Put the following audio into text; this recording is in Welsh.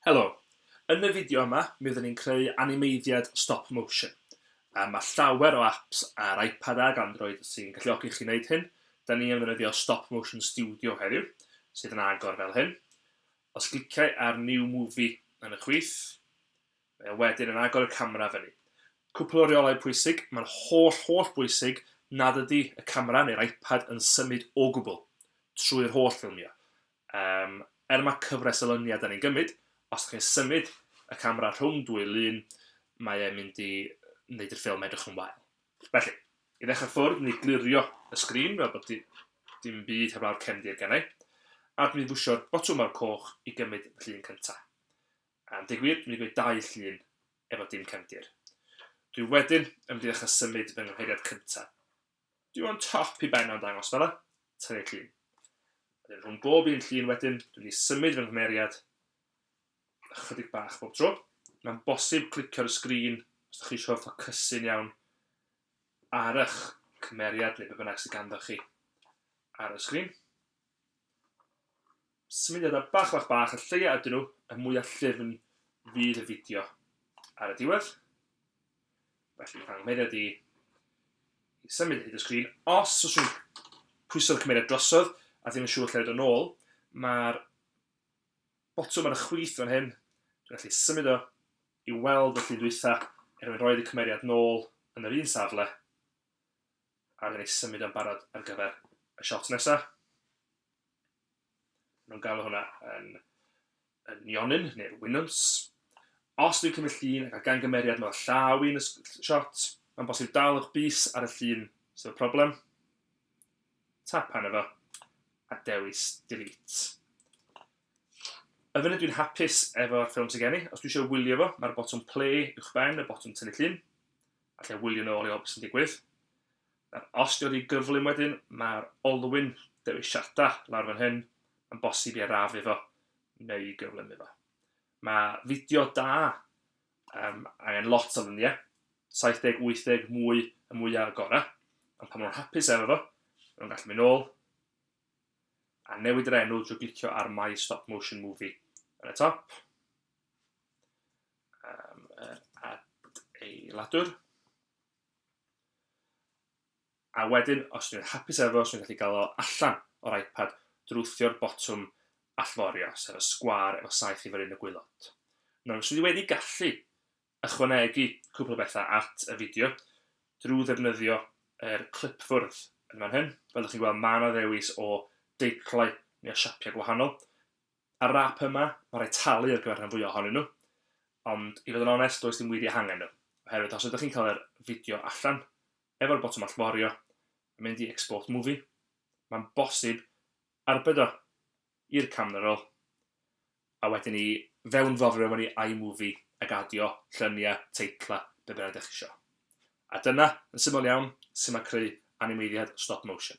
Helo, yn y fideo yma mi oeddwn ni'n creu animeiddiad stop motion. Um, mae llawer o apps ar iPad ag Android sy'n galluogi chi wneud hyn. Da ni yn ddefnyddio Stop Motion Studio heddiw, sydd yn agor fel hyn. Os gliciau ar New Movie yn y chwith, Mae e wedyn yn agor y camera fyny. Cwpl o reolau pwysig, mae'n holl holl bwysig nad ydy y camera neu'r iPad yn symud o gwbl trwy'r holl ffilmio. Yym, er mae cyfres o lyniau da ni'n gymryd, os da chi'n symud y camera rhwng dwy lun, mae e'n mynd i wneud i'r ffilm edrych yn wael. Felly, i ddechrau ffwrdd, ni glirio y sgrin fel bod di, dim byd heblaw'r cefndir gennau, a dwi'n pwsio'r botwm mawr coch i gymryd fy llun cyntaf. Am deg wir, mi fu dau llun efo dim cefndir. Dwi wedyn yn mynd i ddechrau symud fy nghymheiriad cynta. Dwi o'n top i ben o'n dangos fela, tynnu llun. Wedyn rhwng bob un llun wedyn, dwi wedi symud fy nghymheiriad ychydig bach bob tro. Mae'n bosib clicio ar y sgrin os ydych chi eisiau ffocysu'n iawn ar eich cymeriad neu be bynnag sydd ganddo chi ar y sgrin. Symudiadau bach bach bach, y lleia ydyn nhw, y mwya llyfn fydd y fideo ar y diwedd. Felly, pan nghymeriad i, i symud hyd y sgrin, os oes rhywun pwyso'r cymeriad drosodd a ddim yn siŵr lle roed o'n ôl, mae'r botwm ar y chwith fan hyn, dwi'n gallu symud o i weld y llun dwytha, er mwyn roed y cymeriad nôl yn yr un safle, ac yn eu symud yn barod ar gyfer y shot nesaf. Maen nhw'n galw hwnna yn, yn nionyn, neu'r winwns. Os dwi'n cymryd llun ac a gan gymeriad mewn llaw i'n shot, mae'n bosib dal o'ch bus ar y llun sydd y problem. Tap pan efo, a dewis delete. Y funud dwi'n hapus efo'r ffilm sy'n gen i, os dwi eisiau wylio fo, mae'r botwm play uwch ben y botwm tynnu llun. Allai wylio nôl i weld beth sy'n digwydd. Nawr, os di wedi gyflym wedyn, mae'r olwyn dewisiadau lawr fan hyn yn bosib i arafu fo neu i gyflymu fo. Mae fideo da um, angen lot o lyniau, 70, 80 mwy y mwyaf y gorau, ond pan maen nhw'n hapus efo fo, maen nhw'n gallu mynd ôl a newid yr enw drwy glicio ar My Stop Motion Movie yn y top. am yr adeiladwr. A wedyn, os dwi'n hapus efo, os dwi'n gallu gael o allan o'r iPad, drwthio'r botwm allforio, sef y sgwar efo saith i yn y gwylod. Nawr, os dwi wedi gallu ychwanegu cwpl o bethau at y fideo drwy ddefnyddio yr clipfwrdd yn fan hyn, fel ydych chi'n gweld, mae yna ddewis o deitlau neu o siapiau gwahanol. Ar yr ap yma, mae rhaid talu ar gyfer rhan fwyaf ohonyn nhw, ond i fod yn onest, does dim wir eu hangen nhw, oherwydd os ydych chi'n cael yr fideo allan, efo'r botwm allforio, a mynd i Export Movie, mae'n bosib arbed o i'r camera roll, a wedyn i fewnforio mewn i iMovie ac adio lluniau, teitlau, be bynnag dych chi isio. A dyna, yn syml iawn, sut mae creu animeiddiad stop motion.